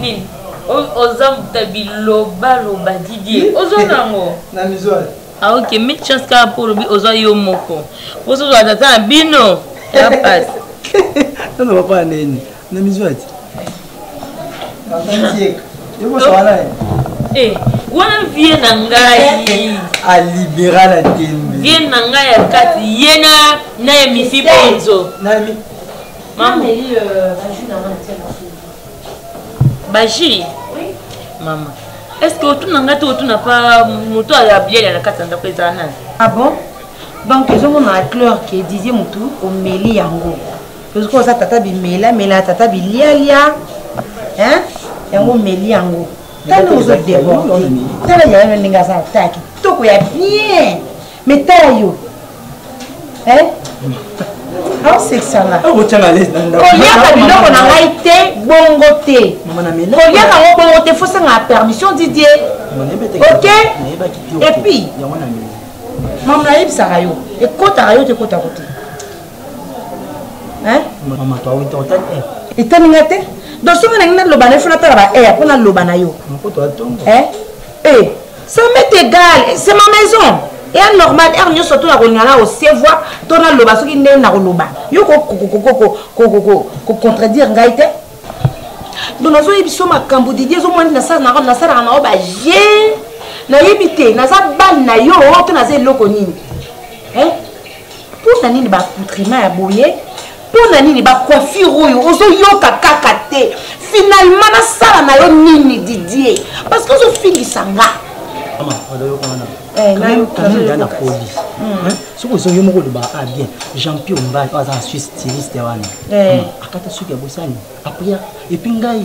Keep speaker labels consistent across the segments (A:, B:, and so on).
A: nini oza mbuta bilobaloba didie ozwa nango na mizwali
B: ah, ok mille
A: chance kaka mpo olobi ozwa yo moko mposo ozwa tata na bino ya pasi nano
B: papa ya neni na mizwali eh,
A: wana vie na ngai eh, eh, alibera
B: na tembe vie na ngai ya
A: kati ye na na emifi bonzo
C: mameli euh,
A: baju na nga natia na fulu baju mama est ce que otuna ngai te otuna pa moto ya biele na kati ya ndako ezala nani ah bon
C: donc ezomona na cleur ke dizie motu omeli yango tozoki oza tata bimela mela tata bilialia hein yango omeli yango tala ozodeborde tala yayo ndenge aza ta kitoko ya bien me tala yo eh? aosekisanga
B: koliaka biloko
C: na ngai te bongo te koliaka yango bongo te fosangaka permission didie ok epuis mama nayebisaka yo ekotaka yo te ekotako te
B: etani nga te
C: donc soki nangi naloba na yo fo natala ba air mpo naloba na yo Eh, ça m'est égal, c'est ma maison. eya normal heure nyonso to nakolinga na osevwa to naloba soki ndenge nakoloba yo kocontredire ngai te donc nazoyebi so makambo didi ezomwani nasalaka na yo baje nayebi te naza bale na yo to naza eloko nini mpo na nini baaccoutrement ya boye mpo na nini bacoiffure oyo ozoyoka kaka te finalement nasala na yo nini didie parce que ozofingisa nga eh, kamida na
B: police hmm. soki ozongi yo moko oloba a ah, bien jean pio mbai aza na suisse stiliste wana eh. hmm. akata soki ya bosani apria epuis ngai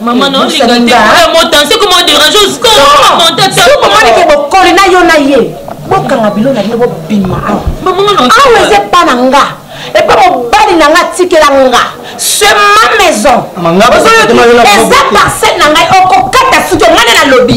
A: mama naolinga te ya motanse koma oderange osikomontatsokomoni ke bokoli na
C: yo na ye bokanga bilo na bino bobima awa
A: awa eza epa na nga
C: epa mobali na nga atikela nga se ma maison eza parcelle na ngai okokata suki ongai nde nalobi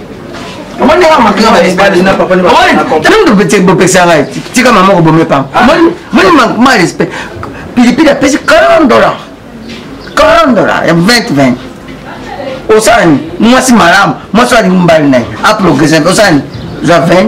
D: omoni kaka makila bopekisa ngai tika mama kobome pam moni ma respect pilipili apesi 40 dollar 40 dollar ya 2020 osani mwasi malamu mwasi alingi mobali na ye aprogrese osani zwa 20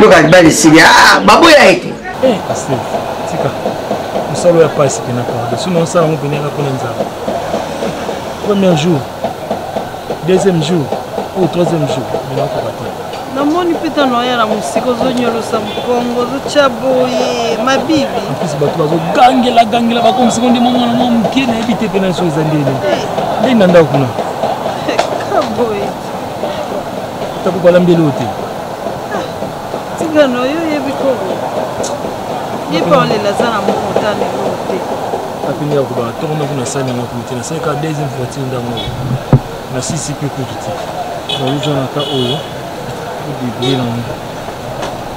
D: Boka bali sidi ah baboya ete. Eh pasteur
B: tika mosala ya pasi pena pardon sino osala yango pena yaka mpona nzambe premier jour deuxième jour ou troisième jour mena okoka te namoni mpe
C: ntango oya na mosika ozonyolosa mokongo ozotya boye mabibi mpesi bato
B: bazogangela gangela bakomisi ngo nde mwa mwana mwa moke nayebi te mpe na biso eza ndene eh. ndenge na ndako kuna Tabu balambi eloko te. Ah, Tika
C: no yo yebi ko. Ye pa olela za na moko tani eloko te. Apini ya
B: kuba toko na kuna sani na kumite na sani ka deuxième voiture ndango. Na sisi pe kutu te. Ba uzo na ta oyo. Bibi na moko.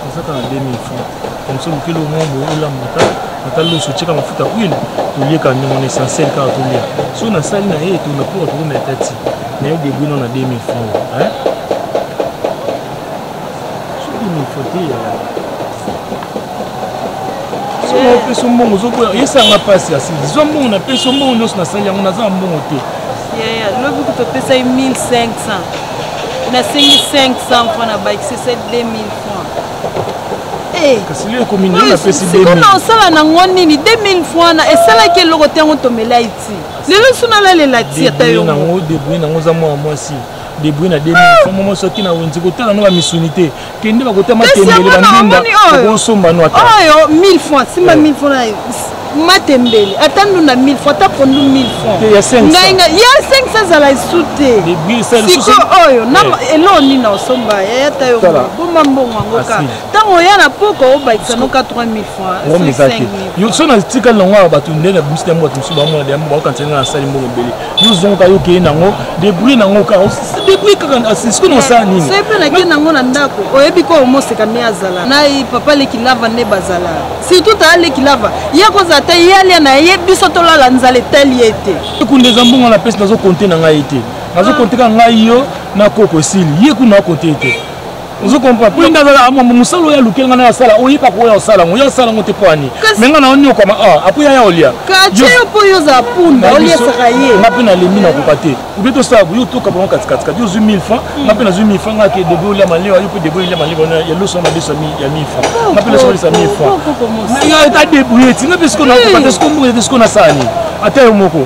B: ezaka na 2000 francs comme ça mokili omwa boye olambaka ata loso otyeka mafuta huile tolieka ndenge na essentiel kaka tolia so nasali na ye etona mpo tokoma etati na yo debwino na 2000 francs so 2000 francs te yaya opesa mbongo ozoboya esanga mpasi ya sili zwa mbongo napesa mbongo nyonso nasali yango naza na mbongo te yaya lobi
C: kutu opesai 1500 nasengi 500 francs na bakisi se 2000 francs eh.
B: kasi lio ekomi nini napesi siko na osala nango
C: nini 2000 francs na esalaki eloko te yango tomelai ti lelo so nalalela ti ata yonango debrouille nango oza mwana
B: mwasi debrouille na 2000 francs mwa mwasi oki na wenze kotala no bamisuni te kende bakota matembele bandunda okosomba no ata oyo 1000 francs simba
C: 1000 eh. francs nayo matembele ata ndunda 1000 francs ata pondu 1000 francsngainga ya 500 ezala esu te siko oyo eh. eloo nini osomba yaya ta yo boma mbongo yango ka ntango ah, oya na poko obakisa noka 3000 francs so
B: natikali nango awa bato nde na bimisi na yango bato mosusu bamona de yango baokanisa ngai nasali mbongo ebele yo zongo kaka okei nango debrie nango kaka debrie kaka sikoyo nosala nini soki mpe nakei nango na
C: ndako oyebi ko omoseka nde azala na papa leki lava nde bazala surtout taa leki lava ye akozala te ye alia na ye biso tolala nzala etali ye te ekunde eza mbongo na pesi
B: nazokonte na ngai te nazokonte ah. kaka ngai yo na koko esili ye kuna akonte te ozo comprendre po nga zala amambo mosala oyo alukeli nga na asala oyeba ko oyo osala ngo yo osala ngo te po ani me nga na oniokama a ah, apo yaya olia kaceyo po yo
C: oza punda oliesaka ye nga mpe nalembi nakoka
B: te obe tosala boyo toka bango katikati kati ozwi 1000 franc hmm. nga mpe nazwi 1000 franc nga ke debe olia malewa yo mpe debe olia malewa na ya loso na biso ya 1000 franc nga mpe loso olisa 1000 franc yo ta debrouille ti nga mpe siko nakoka te siko mboka te siko nasala nini ata yo moko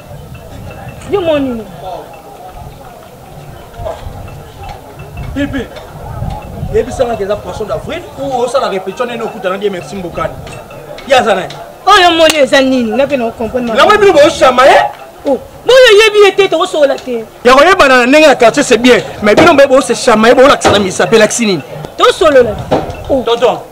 A: Yo mon nini?
E: Pipi. Yebisa nga keza poisson d'avril ou osala répétition nene okutana die merci mbokani. Yaza naye. Oyo oh, moni
A: eza nini? Nga pe na comprendre ma. Yango bino boshama ye?
E: Oh, boyo
A: yebi ye te tokosola te. Ya koyebana na ndenge ya
E: quartier c'est bien, mais bino mbe bo se shama ye bo lakisa na misa pe lakisi nini? Tosolola.
A: Oh. Tonton.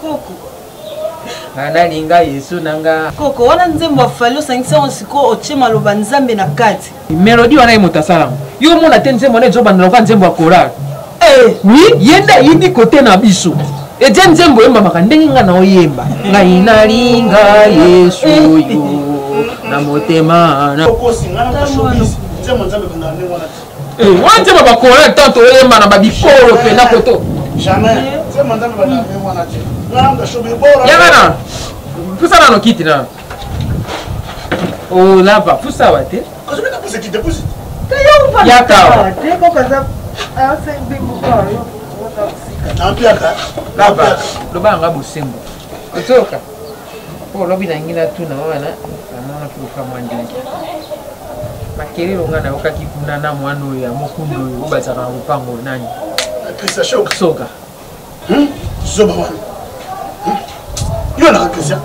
C: koko
F: nga nalinga yesu na nga koko wana nzembo
C: afali osangisi yango sikoyo otye maloba nzambe na kati melodi wana ye moto
F: asalango yo omona te nzembo wana ezobandela oka nzembo ya korale eh. wi ye nde ayebi kote na biso etie nzembo oyembamaka ndenge nga na oyemba ngai nalinga yesu yo na motema na Eh, wana nzembo bakola tanto oyemba na babikolo mpena koto yangana pusa nano kiti na olava oh, pusa awa te yakawa loba yanga bosembo ozoka mpo lobi nangi natuna wana namonaki loka mwa ndenge makelelo ngai nayokaki kuna na mwana oyo ya mokundu oyo oyo bazalaka na lopango nani soka hmm?
G: zoba wana hmm? yo na eklezia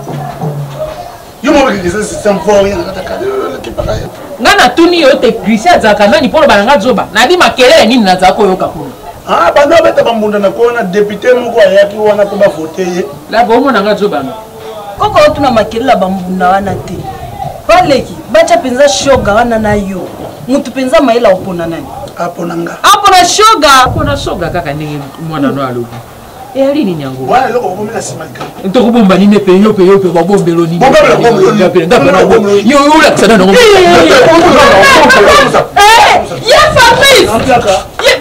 G: yo moko eklezia sisambori nakatakaepaka ye ngai natuni yo te
F: grisi azalaka nani mpo loba na ngai zoba nayebi makelele nini nazalaka koyoka kuna ah, banda obeta
G: bambunda na kona depute moko ayaki wana mpo bavote ye la bomona nga zoba
F: no koko otuna
C: makele na bambunda wana te baleki batya mpenza shoga wana na yo motu mpenza mayele akopona nani apona nga apona shoga apona shoga kaka ndenge mwana
F: no alobi eyali nini yango wana eloko bakomi na nsima
G: likambo tokobomba nini mpe
F: yo mpe yo mpe babombelo nini yo olakisa nano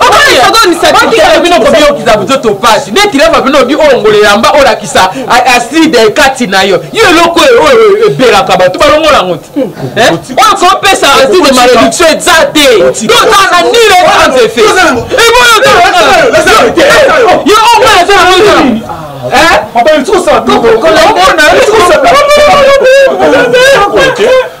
C: okomisaokomisabikela bino kobiyokisa buzoto mpasi nde kilava bino obi olongola elamba olakisa aside ekati na yo yo eloko oyo ebelaka bato balongola yango te oyo kopesa aside malediction eza te toza na nile sans effet yo omona eza na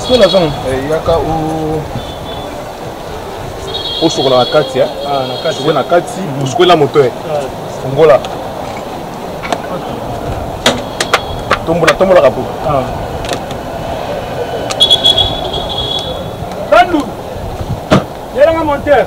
G: sola zong eh, yaka osokola na kati eh? ah, sokola na kati mm. osokola moto eh? ah. fongola tombola tombolaka po bandu yelanga monteur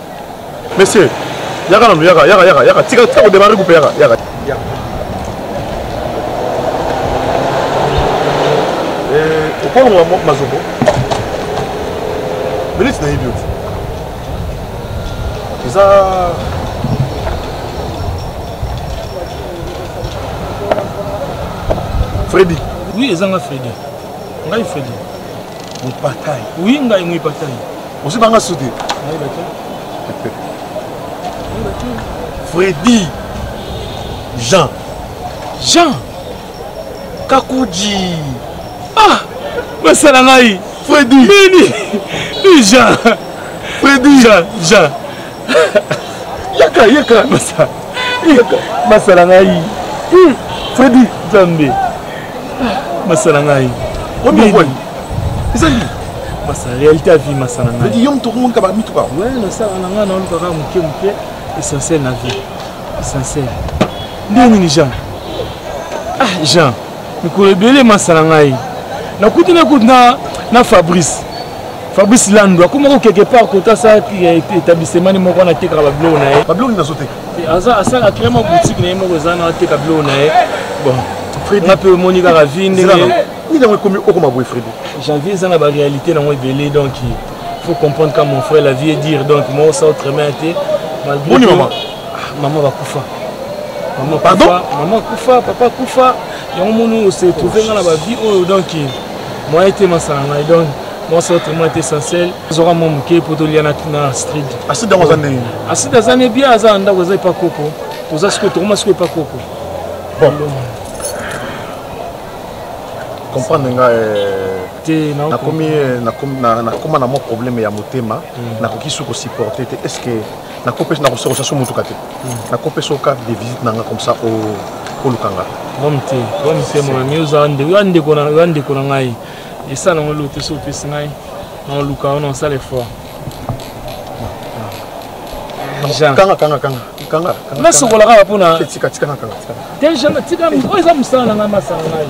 G: Monsieur, yaka nanu, yaka, yaka, yaka, yaka, tika, tika kodemare kupe yaka, yaka. Eh, okolonga mazoko. Minute na yebi yo. Eza Freddy. Oui, ezanga Freddy.
E: Ngai Freddy.
G: Mupatai. Oui, ngai Mupatai.
E: Osi banga soute.
G: Ngai baki. Ngai baki. Freddy Jean. Jean Kakuji. Ah,
E: basala ngai. Freddy.
G: Nini?
E: Jean. Freddy. Jean,
G: Jean. yaka yaka basa yaka basala ngai hmm. fredi nzambe masala ngai omiboni eza nini masa réalité ya vie masala ngai yo moto okomonka bamituka
E: we nasala na ngai
G: naolukaka moke moke essentiel na vie essentiel nde nini jean ah jean mikolo ebele masa na ngai nakuti nakuti na, na fabrice fabrice lando akomaki quelque part kota sa établissement moko wana atekaka babiloko na ye babiloko nini azoteka
E: aza asala akrea
G: mwa boutique na ye moko eza na ateka biloko na ye bon nga mpe omoni kaka vi ndenge nini yango ekomi
E: okoma boye fredi janvier eza na baréalité
G: nango ebele donc faut comprendre ka mon frère la vie est dire donc moi osa autrement te malgré
E: ah, maman bakufa
G: maman pardon maman
E: kufa papa
G: kufa yango moni ose trouve nga na bavie oyo donc moyen te masala ngai donc mwasi oyo tellement te essentiel azoka mwa moke mpo tolia na astrid astrid yango aza ndenge
E: astrid aza ne bien
G: aza na ndako aza epa koko toza sikoyo tokoma sikoyo epa koko bon
E: comprendre nga euh, te nakomi euh, nakoma na mwa problème ya motema hmm. nakoki su kosupporte te est ce que nakopesa nakosokosa so motuka te nakopesa oyo carte de visite na nga comme ça oluka nga problème te problème
G: te mama yo oza oza ndeko na ngai esala nango eloko te so opesi ngai naoluka wana osala effort
E: nasokola kaka
G: mpona deja natika oyo eza mosala na ngai masala ngai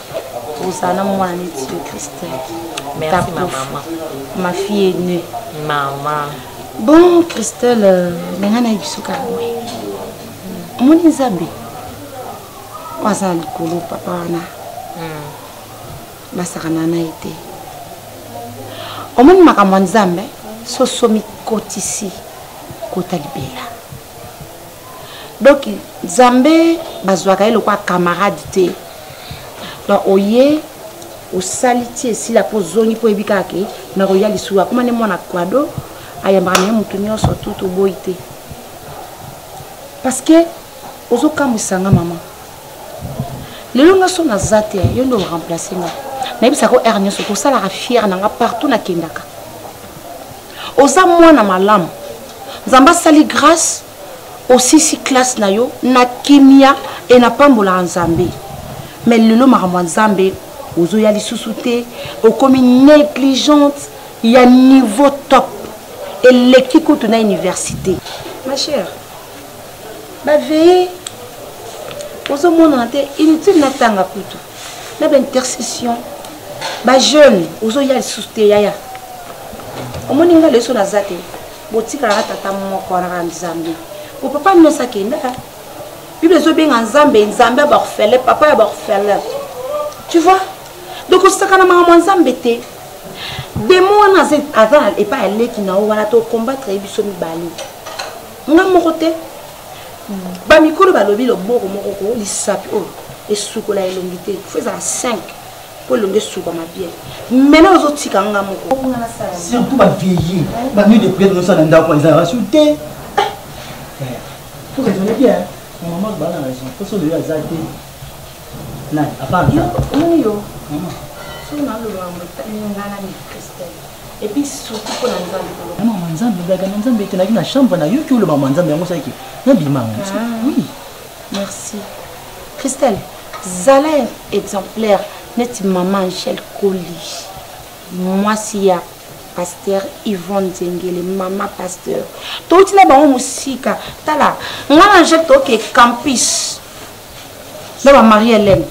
C: ozala na mwana neti yo christelle merci ma maman ma fille aînée maman bon christelle euh, ndenge nayebiso kaka boye omoni nzambe oyo aza na likolo papa wana hmm. basakana na ye te omoni makambo ya nzambe soso mikotisi kota libela donc nzambe bazwaka ye lokola camarade te donc oye osali ti esila mpo ozongi mpo oyebi kaka ke nakoya lisusu akoma nde mwana kwado ayambaka na ye motu nyonso tu toboyi te parce que ozokamwisa nga mama lelo nga so naza te yo nde oremplace nga nayebisaka o heure nyonso kosalaka fiere na nga partout nakendaka oza mwana malamu nzambe asali grâce osisi classe na yo na kimia e napambolaka nzambe mais lelo makambo ya nzambe ozoya lisusu te okomi négligente ya niveau top eleki kutu na université ma chère baveye ozomonana te inutile natanga kutu na ba intercession ba jeune ozoya lisusu te yaya omoni nga leso naza te botikalaka tata moko wana kaka nzambe po papa nyonso akenda bible ezobenga nzambe nzambe ya baorphelin papa ya baorphelin tu vois donc osakana makambo ya nzambe te demo wana aza epai aleki na yo wana tokombatre ye biso mibale nga moko te bamikolo balobi loboko moko ko lisapi oyo esukola elongi te fo ezala 5 mpo elongi esukama bien mena ozotika nga moko surtout
B: bavieille banuit de priere nosala na ndako ezalaka su te eh, eh, pour raisonne bien maman bana raison mposo oyo aza te Nani? Apana. Yo,
C: omoni yo. Mama. Soki na
B: loloba
C: mo tani ngana ni Christelle. Et puis surtout pour la Nzambe. Na mama Nzambe, blaga na
B: Nzambe te na na chambre na yoki oloba mama Nzambe yango saki. Na bima ngo. Ah. Oui. Merci.
C: Christelle, zala exemplaire neti maman Angèle Colis. Moi si ya pasteur yvonne nzengele mama pasteur touti na bango mosika tala ngai na je toke campus na ba marie helene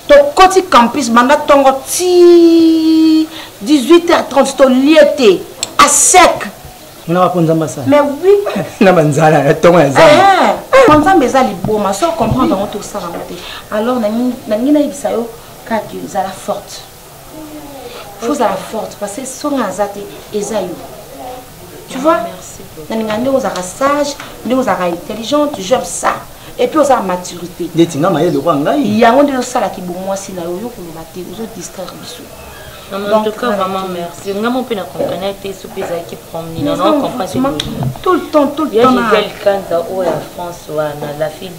C: tokoti campus banda ntongo ti 18h30 tolie te a sec mona bakonza
B: masala mais oui na
C: banzala
B: ya ntongo ya zamba eh, eh. mpo nzambe eza
C: liboma so comprendre yango tosala yango te alors nangi nayebisa yo kaka ezala forte fozala forte parce que soki nga aza te eza yo tu vois nalinga ndenge ozalaka sage ndenge ozalaka intelligente j'aime ça epuis oza na maturité ndeti nga mayele kwa
B: ngai yango nde ozosala
C: kibomwasi na yo oyo koloba te ozodistraire biso en tout
H: cas vraiment merci nga mo mpe na comprene te so mpe ezalaki promni na comprene tout le temps
C: tout le temps ya gisele kanza
H: oyo ya france wana la fille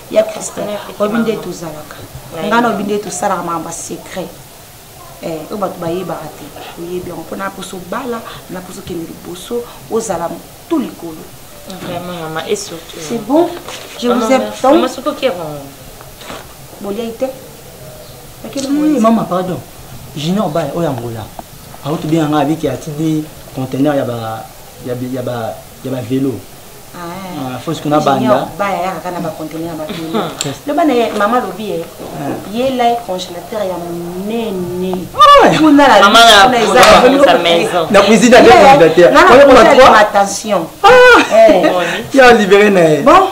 C: ya christin oyebi nde tozalaka ngai na oyebi nde tosalaka makambo ya secret eh, oyo bato bayebaka te oyebi yango mpo naposo bala naposo kende liboso ozala to likolo vraiment mama
H: et surtout c'est bon
C: je vous aime tant mama
H: soko ki
C: yango
B: boliai te mama pardon junior bala oyo angola auti bien ngai abiki atindi conteneur ya ba ya ba ya ba velo Ah, fosi kuna banda baya yaka kana ba
C: conteneur ya bapili loba na ye mama alobi ye yela ye congélateur ya monene kuna
H: na cuisine ake
B: congélateur attention ya libéré na ye bon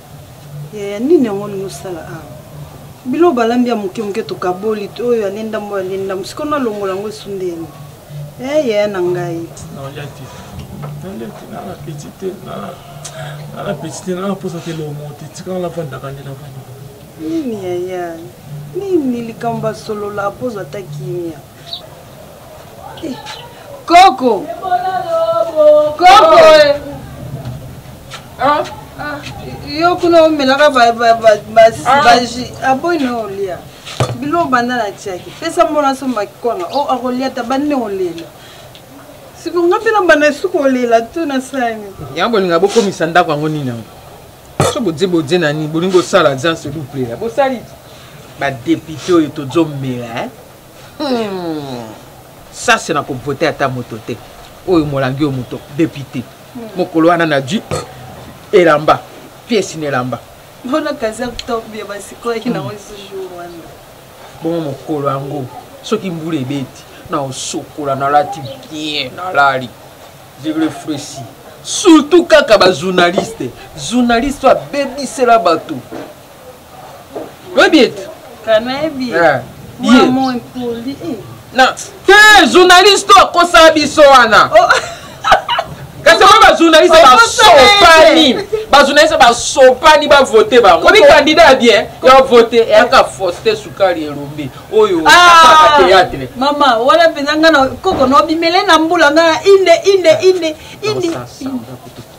I: yaya nini yango olingi osala awa bilo balambi ya moke moke tokaboli oyo alendambo alendambo sikoyo nalongola yango esundeni e eh, yaya na ngai nalia te nalia te nala
G: peti te nala peti te nala mposa te lomo te tikala navandaka nde navandi nini yaya
I: nini likambo asolola mpozo ata kimia koko koko ah. Ah, yo kuna omelaka baji aboyi ah, na olia bilo banda na tiaki pesa mbona somba kikwanga o oh, akolia ta bande olela siko nga mpe na banda esuku olela to na sani yango bolinga bokomisa
F: ndako yango nini yango so bodie bodie na nini bolingi bosala jan seluplela bosali badepute oyo tozomela Hmm. sasi na kovote ata moto te oyo molangi oyo moto depute hmm. mokolo wana na ji elamba piesi na elamba
I: bongo mokolo
F: yango soki mbula ebeti na osokola nalati bien nalali je refresi surtout kaka bajournaliste journaliste oyo abebisela bato oyebi ete kanayebi
I: eh, ye
F: eh. na te journaliste akosala biso wana oh. kasi oyo bajournaliste basopani bajournaliste basopani bavote bango obi candidat ya bien ya vote eyaka foste sukali elombe oyo ah, théâtre mama wana mpenza
I: nga na koko nobimele na mbula nga inde inde inde inde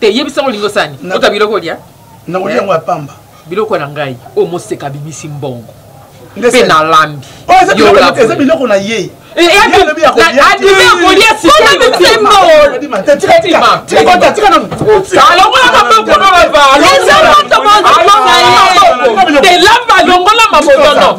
I: te
F: yebisa ngo olingi osani ota biloko olia nakolia yango ya
G: pamba biloko na ngai
F: oyo moseka abimisi mbongo mpe nalambi eza
G: biloko na ye elamba longola mabotono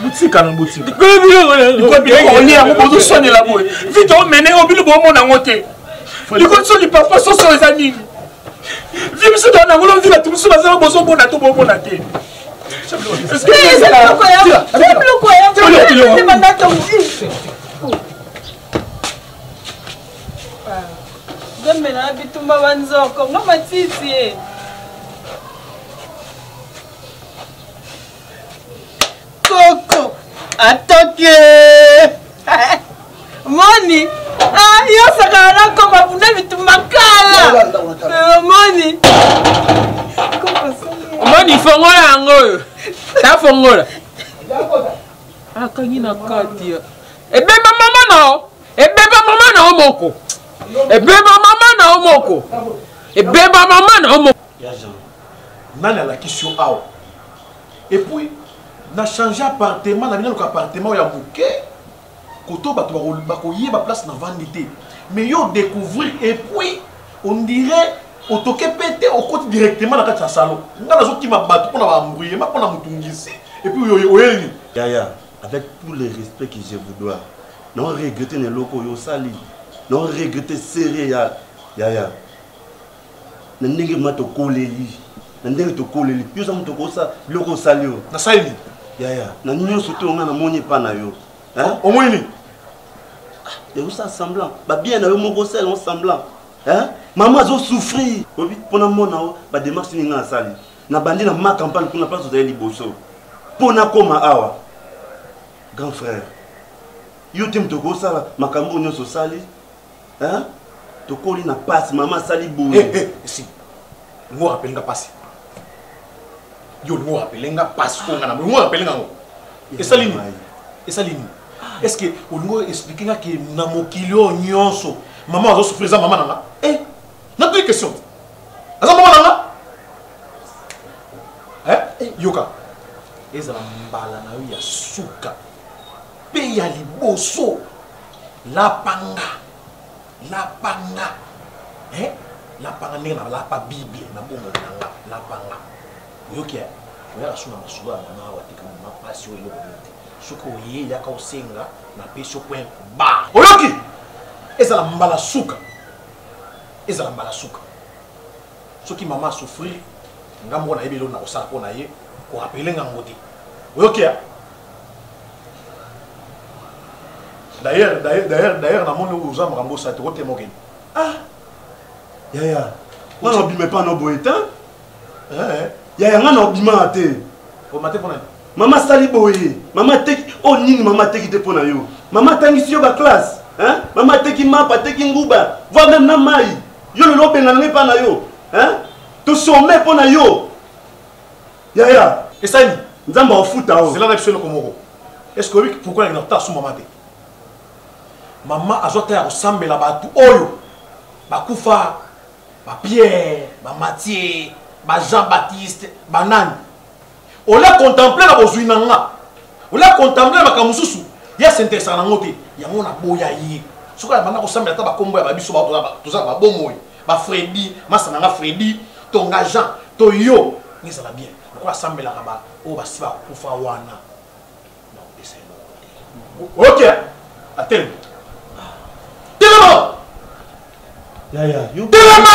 E: botika na botiaolia yango bozoswanela boye vite omene yo bino bomona yango te likonso lipapa soso eza nini vi biso toa na ngolo vi bato mosusu bazala bozomona to bomona te gambela na bitumba banzoko nga
I: matiti koko atoke moni ah, yo sakala na koma bunda bitumba kala omoni eh,
F: omoni fongola yango oyo tafongola akangi na kati ebeba mama nao ebeba mama nao moko ebeba mama nao moko ebeba mama nao moko
E: nani alakisi yo awa epuis na change appartement na binaluka appartement ya moke koto bato bakoyeba place na vandi te mais yo découvrir epuis on dirait otoke mpe te okoti directement na kati ya salon ngai nazokima bato mpo na baambruyema mpo na motungisi epuis oyeni yaya avec
J: tout le respect que je vous dois na oregrete na eloko oyo osali na oregrete serie ya yaya na ndenge ma tokoleli na ndenge tokoleli yo oza moto okosa biloko osali yo nasali nini yaya
E: na nyonso
J: te onga namoni epa na yo omoni
E: nini
J: eosala ah, semblant babien na yo moko osala yango semblant mama azosouffrir oyebi mpona mona yo bademarche nini ngai asali nabandi na ma campagne kuna place ozali liboso mpo nakóma awa grand frère yo te moto okosala makambo oyo nyonso osali hein tokoli na pasi mama asali boye eh, eh, si
E: ngo rappele nga pasi yo ngo rappele nga pasi ko nga na ngo rappele nga ngo esali nini esali nini est ce que olingo expliquer nga ke na mokili oyo nyonso mama azo souffrir eza mama na nga eh nakoki question aza mama na nga eh, eh yoka ezala mbala na yo ya suka mpe ya liboso lapanga lapanga eh? lapanga ndenge na lapa bible na bongo na nga lapanga oyoki eh? oyaka so na masolo ya mama awa te kama mapasi oyo eloko nini te soki oye yaka osenga napesi okoya ba oyoki ezala mbala suka ezala mbala suka soki mama a souffrir nga moko nayebi eloko nakosala mpo na ye korapele nga ngo te oyoki ya d'ailleurs d'ailleurs d'ailleurs namoni oza makambo osa te otema okende ah yaya
J: nga na obima epa na oboye te yaya nga na obimaka te omate mpo na
E: mama asali boye
J: mama ateki oyo oh, nini mama ateki te mpo na yo mama atangisi yo baklasse mama ateki mapa ateki nguba voi meme na mai yo lelo obengana ngai epai na yo tosome mpo na yo yaya esali
E: nzambe aofuta
J: o zela na biso eloko moko
E: eske oyebi pourkui nakenda kotala su mama te mama azwa ta ya kosambela bato oyo bakufa bapierre bamatie bajean baptiste banani ola contemple na bozwi na nga ola contemple na makambo mosusu ye asentesaka nango te yango naboya ye soki abanda kosambela ata bakombo ya babiso toza na babomoi bafredi masa na nga fredi to nga jean to yo ezala bien lokola asambelaka baoyo basi bakufa wana nakopesa ye moko te oyokia atelema telema telema